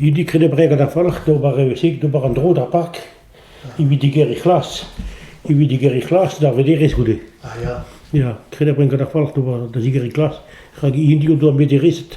Idi kredebrek an afolc'h d'ober reusik d'ober an dro d'ar park evit digeriñ c'hlas evit digeriñ c'hlas d'ar vederezh goude. Ah ya. Ya, kredebrek an afolc'h d'ober da zigeriñ c'hlas rak hini o doa mederezet.